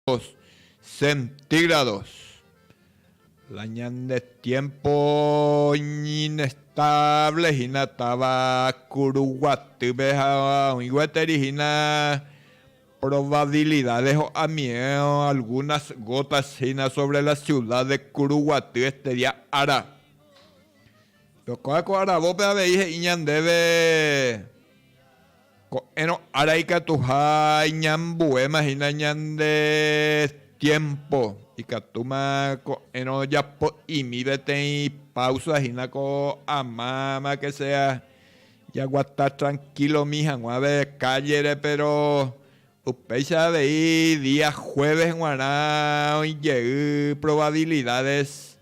grados centígrados. La ñande tiempo inestable hina táva kuru guatýpe ha oĩ gueteri hina probabilidad de ho'amie algunas gotas hina sobre la ciudad de kuru guaty este día ára. Tocaba ko aravópe avei he'i ñandéve. Ko'ẽrõ ára ikatuha iñambuéma hína ñande tiémpo, ikatúma ko'ẽrõ japo'imi peteĩ páusa hína ko amáma ke sea jaguata trankílo omi hag̃uave kállere. Péro upéicha avei día juéves g̃uarã oĩ jey provavilidádes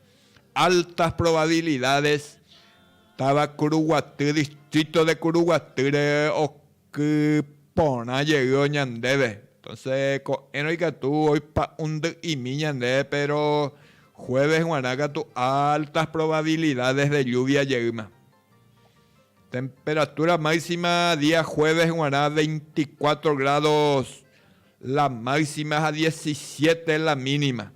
Altas probabilidades táva Kuruguaty distrito de Kuruguatýre okyporã jey oñandéve. Entonce ko'ẽrõ ikatu oipa'undy'imi ñande pero jueves guarã katu altas probabilidades de lluvia jeýma. Temperatura máxima día jueves guarã veinticuatro grados la máxima ha diecisiete la mínima.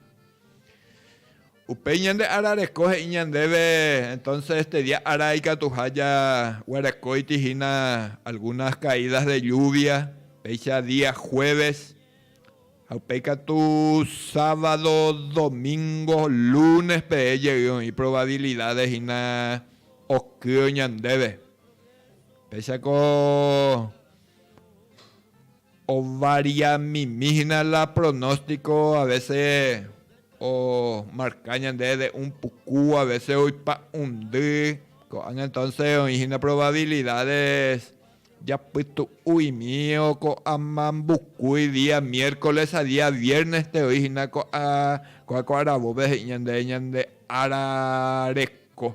Upéi ñande ára reko he'i ñandéve, Entonce este día ára ikatuha jaguerekóiti hína algunas caídas de lluvia, péicha día jueves, ha upéi katu sábado, domingo, lunes peve jey oĩ probabilidades hína okýo ñandéve. Péichako. Ovaria mimi hína la pronóstico a vece o marca ñande de un puku a vece oipa'undy ko'ág̃a entonces oĩ hína probabilidades japytu'uimi o ko'a mambukúi día miércoles ha día viernes te oĩ hína ko'a ko'a ko'aravópe he'i ñande ñande ára reko.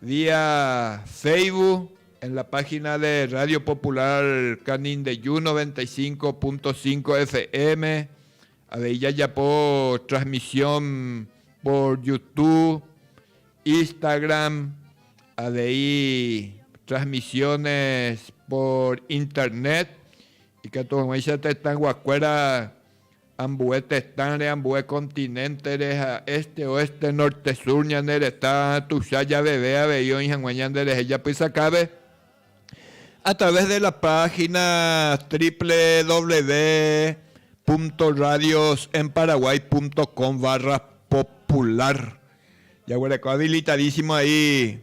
Vía Facebook en la página de Radio Popular Canindeyú noventa y cinco punto cinco FM, avei jajapo transmisión por Youtube, Instagram, avei transmisiones por Internet ikatu hag̃uáicha tetãguakuéra Ambue tetãre, ambue continente-re ha este, oeste, norte, sur ñane retã tuicha javeve avei oĩ hag̃ua ñande rehe japysakápe a través de la página www.radiosenparaguay.com/popular jaguereko habilitadísimo ahí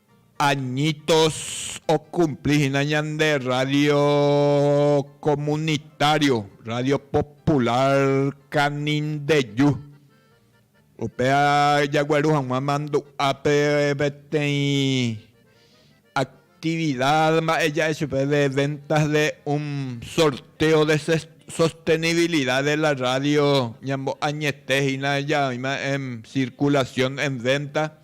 Añitos okumpli hína ñande rrádio komunitário, Rrádio Popular Canindeju. Upéva jagueru hag̃ua mandu'ápe peteĩ aktivida mba'e ja'e chupe de venta de un sorteo de sostenibilida de la rrádio, ñambo'añete hína ja'oima'ẽ en circulación, en venta,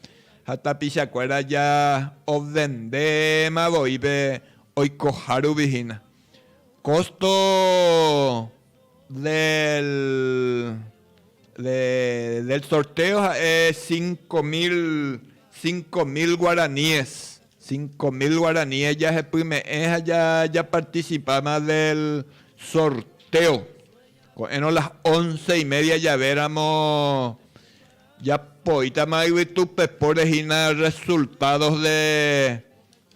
Ha tapichakuéra ja ovendéma voi pe oikoha rupi hína, costo del del sorteo ha'e cinco mil, cinco mil guaraníes, cinco mil guaraníes jahepyme'ẽ ha japarticipáma del sorteo. Ko'ẽrõ las once y media javéramo. Japoítama yvytu pepóre hína resultados de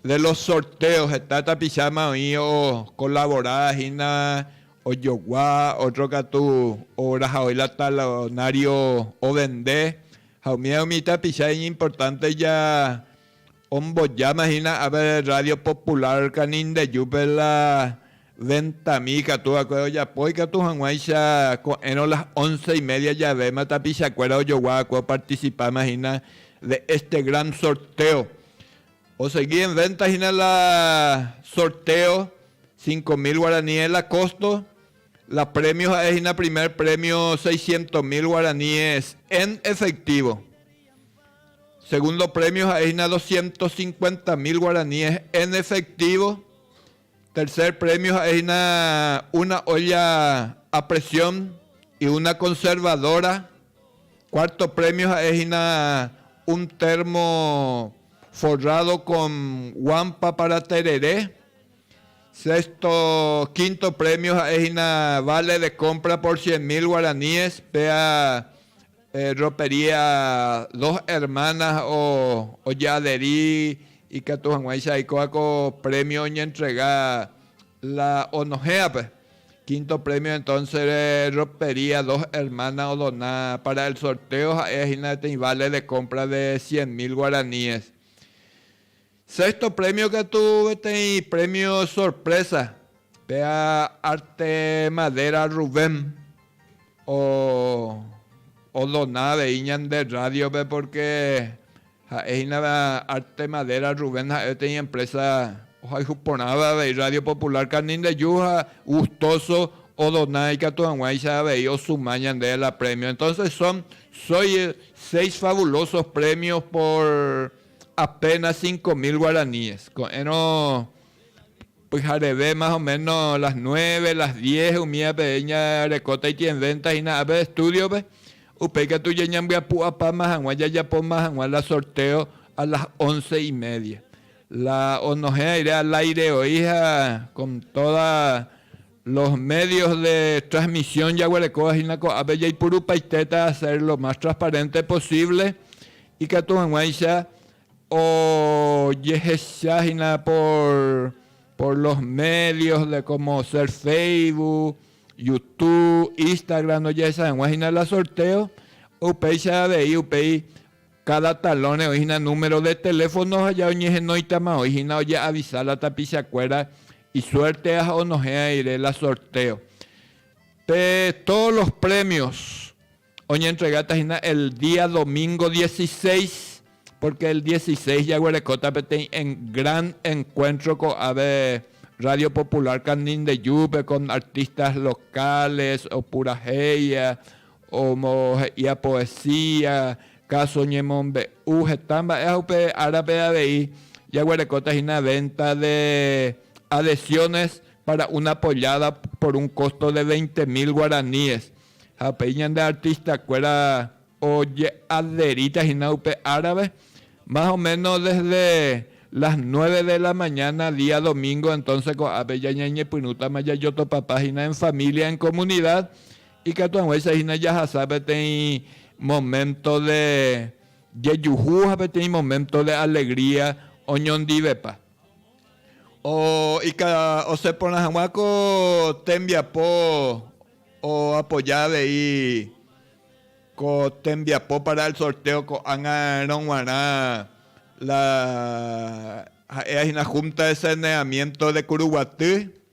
los sorteos, heta tapicháma oĩ okolabora hína ojogua, ótro katu orahaói la talonário ovende ha umíva umi tapicha iñimportánte Ombojáma hína ápe Radio Popular Canindeyúpe la Ventamí ikatu va'ekue ojapo ikatu hag̃uáicha ko'ẽrõ las once y media javéma tapichakuéra ojogua va'ekue opartisipáma hína de este gran sorteo. Osegi en venta hína la sorteo cinco mil guaraní es la costo, la premio ha'e hína primer premio seiscientos mil guaraníes en efectivo. Segundo premio ha'e hína doscientos cincuenta mil guaraníes en efectivo. Tercer premio ha'e hína una olla a presión y una conservadora. Cuarto premio ha'e hína un termo forrado con guampa para tereré. Sexto, quinto premio ha'e hína vale de compra por cien mil guaraníes, péa Ropería dos hermanas oje'aderi ikatu hag̃uáicha aikóva ko premio oñentrega la onohẽ'ape. Quinto premio entonce ropería dos hermanas odona para el sorteo ha'e hína peteĩ vale de compra de cien mil guaraníes. Sexto premio katu peteĩ premio sorpresa pe arte madera Rubén o odona avei ñande radio-pe porque ha'e hína arte madera Rubén ha'e peteĩ empresa ohayhu porãva avei radio popular Canindeju ha gustoso odona ikatu haguãicha avei osuma ñande la premio entonces son soy seis fabulosos premios por Apénas cinco mil guaraníes. Ko'ẽrõ pyhareve más o méno las nueve, las diez umívape ñarekóta itienvénta hína ápe estúdiope. Upéi katu jañambyapu'apáma hag̃ua jajapóma hag̃ua la sortéo a las once y media. La onohẽ aire al áire oĩha kon tóda. Los medios de transmisión jaguerekóva hína ko'ápe jaipurupaitéta hacer lo más transparente posible ikatu hag̃uáicha ojehecha hína por los medios de como ser Facebook, Youtube, Instagram ojehecha hag̃ua hína la sorteo, upéicha avei upéi Káda talõre oĩ hína número de teléfono ha ja oñehenóitama oĩ hína ojeavisa la tapichakuéra isuértea ha onohẽva rire la sortéo. Pe tódo los prémios oñentregáta hína el día domingo dieciséis, pórke el dieciséis jaguerekóta peteĩ gran enkuéntro ko'ápe Radio Popular Canindejupe kon artistas locales, opurahéiva, Omohe'íva poesía, káso ñemombe'u, heta mba'e ha upe árape avei jaguerekóta hína venta de adhesiones para una pollada por un costo de veinte mil guaraníes. Ha upéi ñande artistakuéra oje'adheríta hína upe árape, más o menos desde las nueve de la mañana día domingo, entonces ko'ápe jañañepyrũtama jajotopapa hína en familia, en comunidad, Ikatu hag̃uáicha hína jahasa peteĩ moménto de jejuhu ha peteĩ moménto de alegría oñondivepa. Oika osẽ porã hag̃ua ko tembiapo oapoja avei ko tembiapo para el sorteo ko'ág̃a rõguarã la ha'éva hína Junta de Saneamiento de Kuruguaty.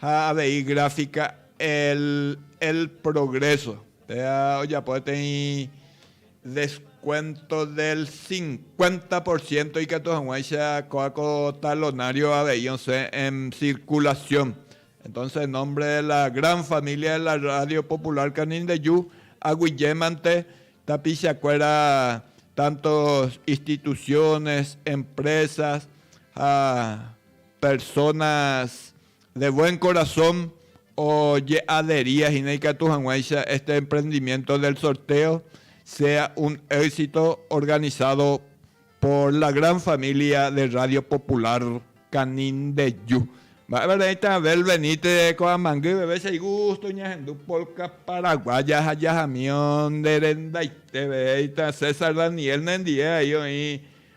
Ha avei gráfica El El Progreso péva ojapo peteĩ descuento del cincuenta por ciento ikatu hag̃uáicha kóva ko talonario avei osẽ en circulación. Entonces en nombre de la gran familia de la Radio Popular Canindeyu aguyjémante tapichakuéra tanto instituciones, empresas ha Personas de buen corazón oje'adería hína ikatu hag̃uáicha este emprendimiento del sorteo sea un éxito organizado por la gran familia de Radio Popular Canindeju. Mba'épa reĩta Abel Benítez ko'ãmangy veve che igusto ñahendu polka paraguaya ha jahamío nde rendaiteve, he'íta César Daniel nendie, ahí oĩ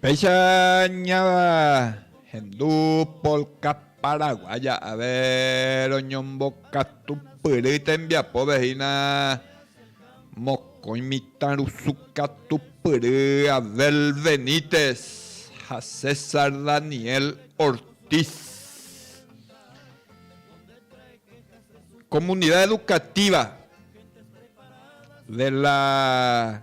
Péicha ñáva hendu polka paraguaya ave roñombokatupyry tembiapópe hína mokõi mitãrusu katupyry Abel Benítez ha César Daniel Ortiz. Comunidad Educativa de la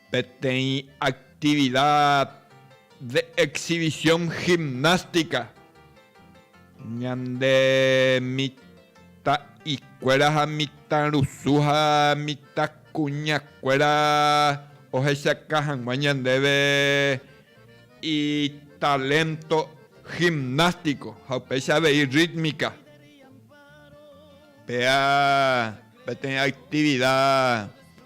Peteĩ activida de exhibición gimnástica ñande mitã'ikuéra ha mitãrusu ha mitãkuñakuéra ohechaka hag̃ua ñandéve italento gimnástico ha upéicha avei rítmica. Péa peteĩ activida.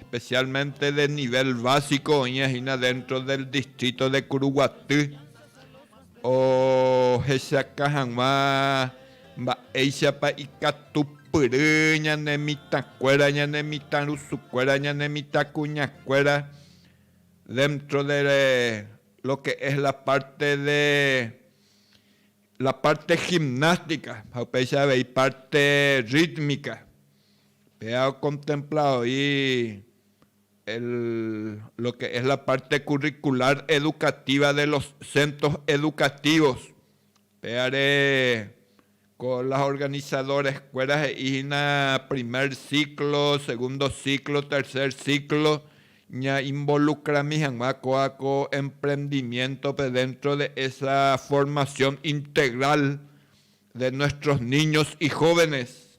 especialmente de nivel básico oĩva hína dentro del distrito de Curuguaty ohechaka hag̃ua mba'éichapa ikatupyry ñane mitãkuéra, ñane mitãrusukuéra, ñane mitãkuñakuéra dentro de lo que es la parte de La parte gimnástica ha upéicha avei parte rítmica. Péa okontempla voi el lo que es la parte curricular educativa de los centros educativos. Péare ko las organizadoreskuéra he'i hína primer ciclo, segundo ciclo, tercer ciclo. Ñainvolukrami hag̃ua kóa ko emprendimiéntope déntro de esa formasión integral de nuestros niños y jóvenes.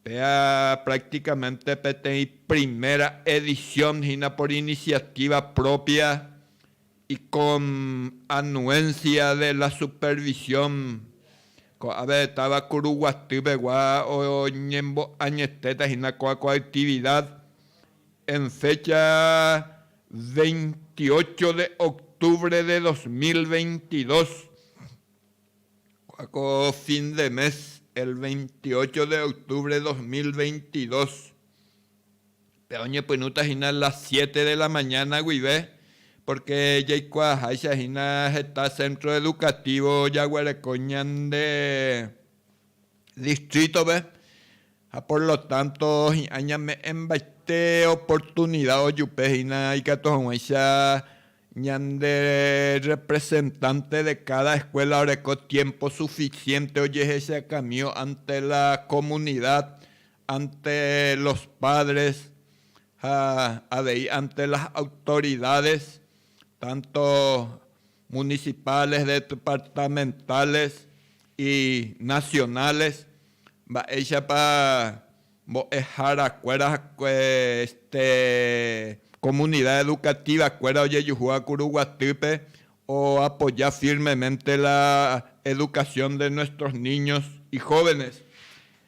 Péa prácticamente peteĩ primera edición hína por iniciativa propia. Icom, Anuencia de la Supervisión, Ko'ápe táva Kuruguaty pegua oñembo'añetéta hína kóa ko actividad en fecha 28 de octubre de 2022, kóa ko fin de mes, el 28 de octubre 2022. Pe oñepyrũta hína las siete de la mañana guive, pórke jaikuaaháicha hína heta centro educativo jaguereko ñande distrítope, ha por lo tánto hi'ã ñame'ẽmbaite oportunida ojupe hína ikatu hag̃uáicha ñande rrepresentánte de káda eskuéla oreko tiémpo sufisiénte ojehechakãmío ánte la komunida ante los padres ha avei ante las autoridades tanto municipales, departamentales y nacionales mba'éichapa mbo'ehára kuéra ha este comunidad educativa kuéra ojejuhúva Kuru Guatýpe o apoya firmemente la educación de nuestros niños y jóvenes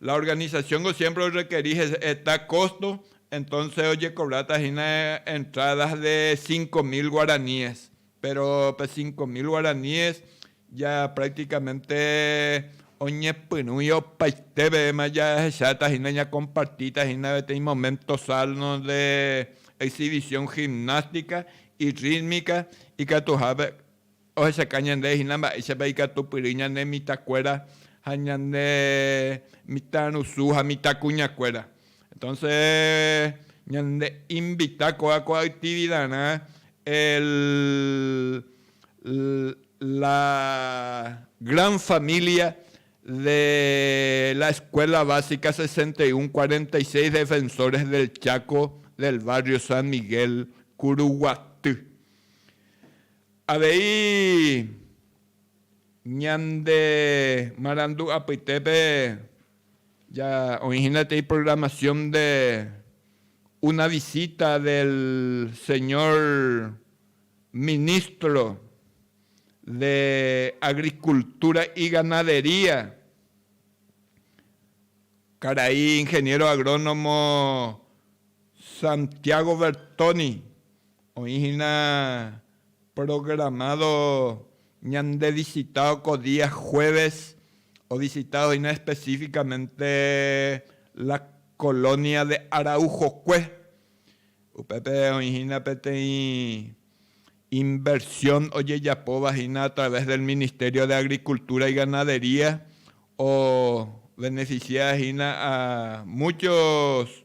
La organización-ko siempre orrekeri heta costo, entonces ojecobráta hína entradas de cinco mil guaraníes, pero pe cinco mil guaraníes ya prácticamente oñepyrũi opaitevéma jahecháta hína ñacompartíta hína peteĩ momento salno de exhibición gimnástica y rítmica ikatuhápe Ohechauka ñandéve hína mba'éichapa ikatupyry ñane mitãkuéra ha ñane mitãrusu ha mitãkuñakuéra. Entonce ñande invita kóva ko actividarã el la gran familia de la Escuela Básica sesenta y un cuarenta y seis Defensores del Chaco del barrio San Miguel Curuguaty. Avei ñande marandu apytépe ja oĩ hína tei programación de una visita del señor Ministro de Agricultura y Ganadería, karai Ingeniero Agrónomo Santiago Bertoni, Oĩ hína programado ñande visitado ko día jueves, o visitado hína específicamente la colonia de Araujokue. Upépe oĩ hína peteĩ inversión ojejapóva hína a través del Ministerio de Agricultura y Ganadería, o beneficia hína a muchos.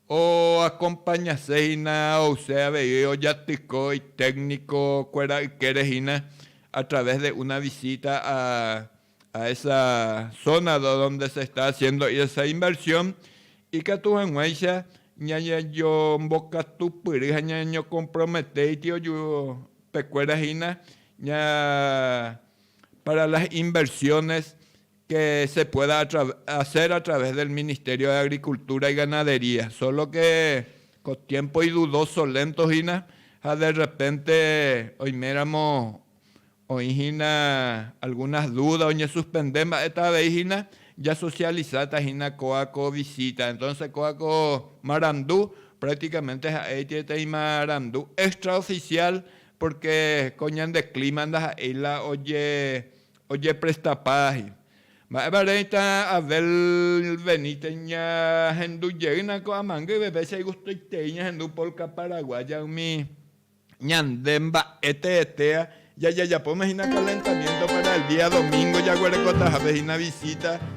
Oakompañase hína ouse avei ojatyko itékniko kuéra ykére hína a través de una visita a a esa zona donde se está haciendo esa inversión ikatu hag̃uáicha ñañejombokatupyry ha ñañeñocomprometéiti oju pekuéra hína ña para las inversiones que se pueda hacer a través del Ministerio de Agricultura y Ganadería, solo que ko tiempo idudoso, lento hína ha de repente oiméramo oĩ hína algunas dudas oñesuspende mba'eta avei hína ja socializa-ta hína kóa ko visita. Entonces kóa ko marandu prácticamente ha'éiti peteĩ marandu extraoficial porque ko ñande clima ndaha'éi la oje Ojeprestapáhi. Mba'épa reíta Abel Benítez ñahendu jeýna ko'ã mangue yveve che gustoitei ñahendu polka paraguaya umi ñande mba'e teetea jajajapóma hína calentamiento para el día domingo jaguerekotahápe hína visita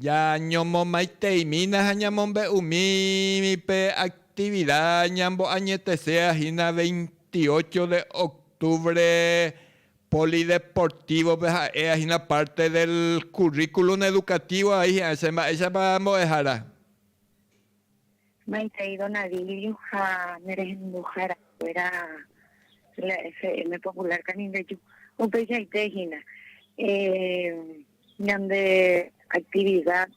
Jañomomaiteimína ha ñamombe'umími pe aktivida ñamboañetesea hína veintiocho de octubre Polideportivo-pe ha'éa hína parte del curriculum educativo, ahí hi'ã che mba'éichapa mbo'ehára. Maitei don Adilio ha ne rehenduhára kuéra la FM Popular Canindeyú upeichaite hína ñande actividad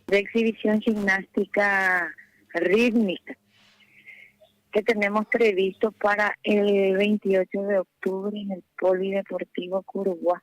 de exhibición gimnástica rítmica que tenemos previsto para el 28 de octubre en el Polideportivo Curugua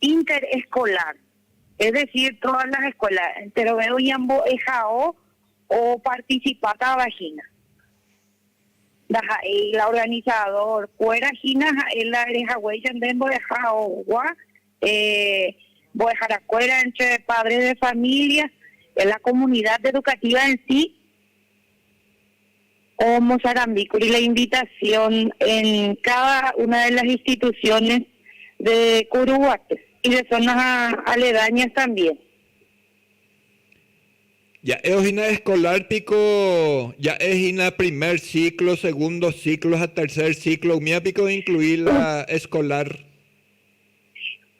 Inter-escolar, es decir, todas las escuelas enterove oñambo'ehao oparticipatava hína. Ndaha'éi la organizador kuéra hína ha'e la rehaguéi yande mbo'ehaogua mbo'ehara kuéra entre padres de familia, la comunidad educativa en sí, Omosarambi kuri la invitación en cada una de las instituciones de Curuguaty y de zonas aledañas también. Ja'évo hína escolar piko ja'e hína primer ciclo, segundo ciclo ha tercer ciclo, umíva piko incluí la escolar?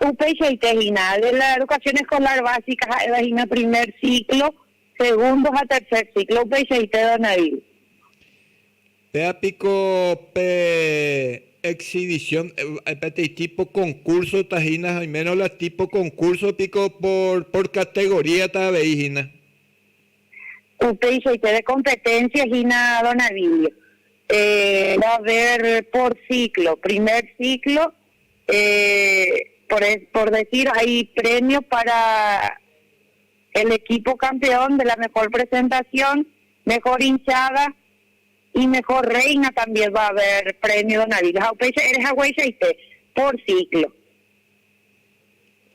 Upeichaite hína, de la educación escolar básica ha'éva hína primer ciclo, Segundo ha tercer ciclo upeichaite Donneville. Péva piko pe exhibición, peteĩ tipo concurso-ta hína ha oimérõ la tipo concurso piko por, por categoría-ta avei hína. Upeichaite de competencia hína Donneville. Eh, va a haber por ciclo, primer ciclo, eh, por, por decir hay premio para. el equipo campeón de la mejor presentación, mejor hinchada y mejor reina también va a haber premio don Avila ha upéicha ere hagueichaite por ciclo.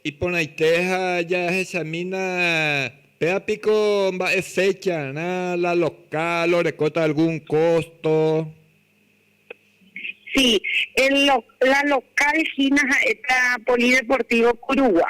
Iporãite ha jahechamína péva piko mba'e fecha rã la local orekóta algún costo? Sí, el la local hína ha'éta Polideportivo Kurugua.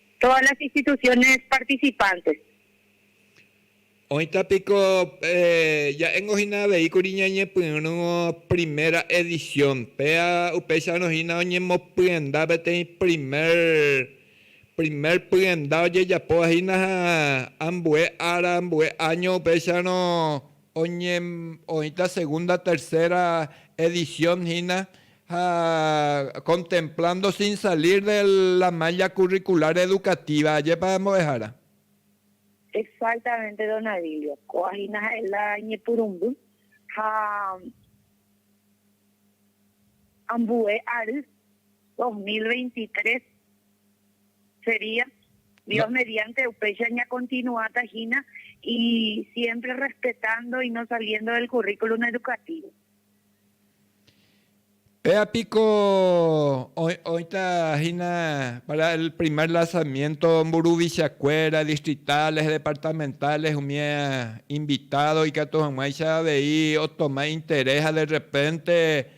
todas las instituciones participantes. Oĩta piko ja'éngo hína avei kuri ñañepyrũ primera edición, péa upéicharõ hína oñemopyenda peteĩ primer, primer pyenda ojejapóva hína ha ambue ára, ambue año upéicharõ Oñemoĩta segunda, tercera edición hína ha contemplando sin salir de la malla curricular educativa, ajépa ambuehára. Exactamente don Avilio, kóva hína ha'e la ñepyrũmby ha ambue ary dos mil veintitrés Sería. Dios mediante upéicha ñakontinuáta hína y siempre rrespetándo y no saliendo del currículum educativo. Péva piko oĩta hína para el primer lanzamiento mburuvichakuéra, distritales, departamentales, umi invitado ikatu hag̃uáicha avei otoma interés ha de repente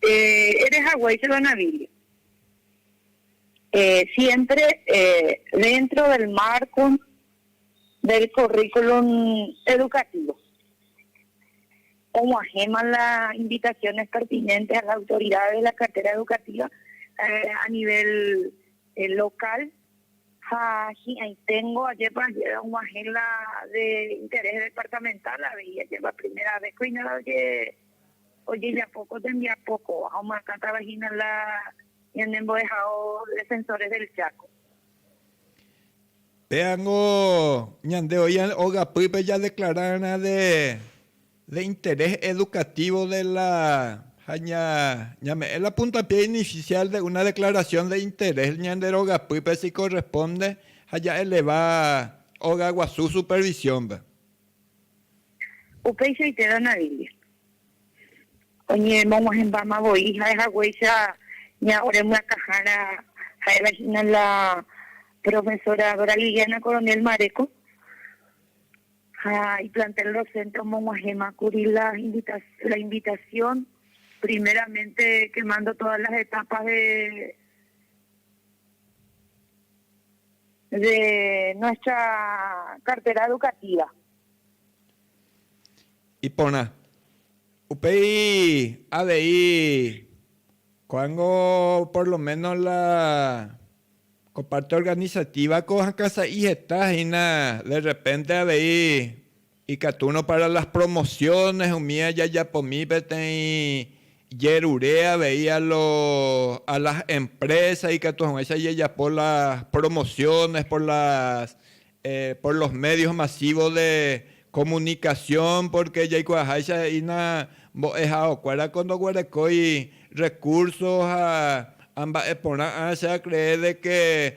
Che ere haguéichapa na Biblia, siémpre déntro del márko del kurríkulum edukativo, og̃uahẽma la invitasiones pertinéntes a las autoridades de la cartera educativa a nivel lokál ha hi'ãiténgo ajépa og̃uahẽ la de interés departamental avei ajépa primera vez ko iñarõ jeje. ojejapo ko tembiapo kóva ha omoakãtava hína la ñane mbo'ehao Defensores del Chaco. Péango ñande oĩ ogapýpe jadeclara rã de de interés educativo de la ha ña ñame'ẽ la puntapié inicial de una declaración de interés ñande rogapýpe si corresponde ha ja'eleva ogaguasu supervisión-pe. Upeichaite Danaville oñemog̃uahẽmbáma voi ha'e haguéicha ña ore myakãhára ha'éva hína la profesora Dora Liliana Coronel Mareco ha iplantel docente omog̃uahẽma kuri la invitación primeramente quemando todas las etapas de de nuestra cartera educativa. Iporã. Upéi avei ko'ág̃o por lo menos la ko parte organizativa-ko hakãsa'i heta hína de repente avei Ikatúrõ pára las promosiones umi jajapomi peteĩ jerure avei a lo a las empresas ikatu hag̃uáicha jajapo las promociones por las por los medios masivos de comunicación porque jaikuaaháicha he'ína mbo'ehaokuéra ko ndoguerekói recursos ha amba'eporã áa che a cree de que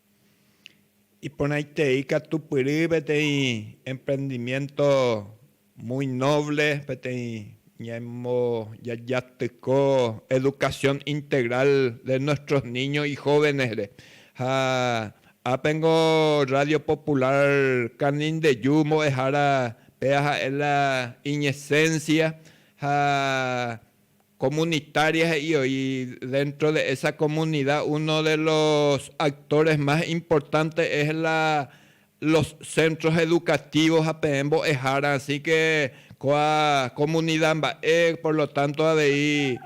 Iporãitei katu pyry peteĩ emprendimiento muy noble, peteĩ ñaemo jajatyko educación integral de nuestros niños y jóvenes-re. Ha ápe niko Radio Popular Canindeyu mbo'ehára péva ha'e la iñesencia ha Comunitaria he'i oĩ dentro de esa comunidad uno de los actores más importante es la los centros educativos ha peẽ mbo'ehára así que kóa comunidad mba'e por lo tanto avei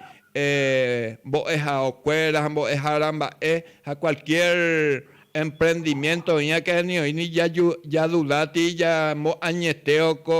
mbo'ehaokuéra ha mbo'ehára mba'e ha cualquier emprendimiento oĩake ni oĩ ni ja duda tei ja moañetéo ko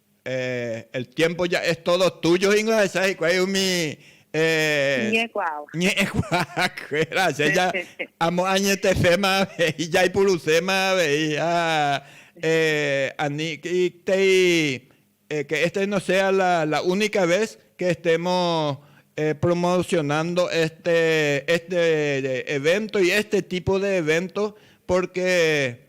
El tiempo ya es todo tuyo hína ohechauka hikuái umi ñe'ẽkuaakuéra, che ja amoañeteféma avei, jaipuruséma avei ha aníntei que este no sea la única vez que estemos promocionando este evento y este tipo de evento porque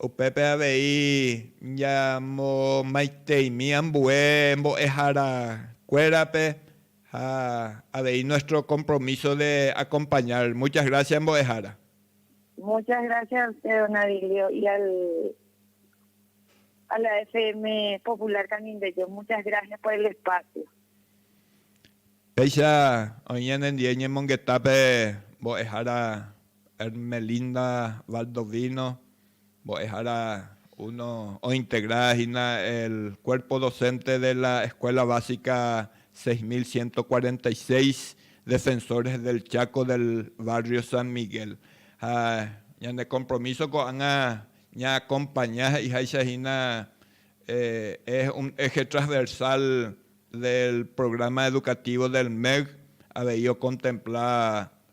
Upépe avei ñamomaiteimi ambue mbo'ehára kuérape ha avei nuestro compromiso de acompañar. Muchas gracias mbo'ehára. Muchas gracias a usted don Avilio y al a la FM Popular Canindeyú. Muchas gracias por el espacio. Péicha oĩ ñanendie ñemongetápe mbo'ehára Ermelinda Valdovino, mbo'ehára uno ointegra hína el cuerpo docente de la Escuela Básica 6146 Defensores del Chaco del Barrio San Miguel. Ha ñane compromiso ko'ág̃a ñaacompaña he'iháicha hína es un eje transversal del Programa Educativo del MEC avei ocontempla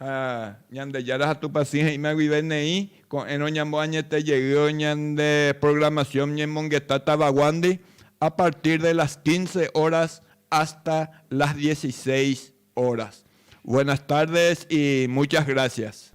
Ha Ñandejára ha Tupã Sy he'íma guive neĩ, Ko'ẽrõ ñamboañete jeýo ñande programación ñemongeta tavaguándi a partir de las quince horas hasta las dieciséis horas. Buenas tardes y muchas gracias.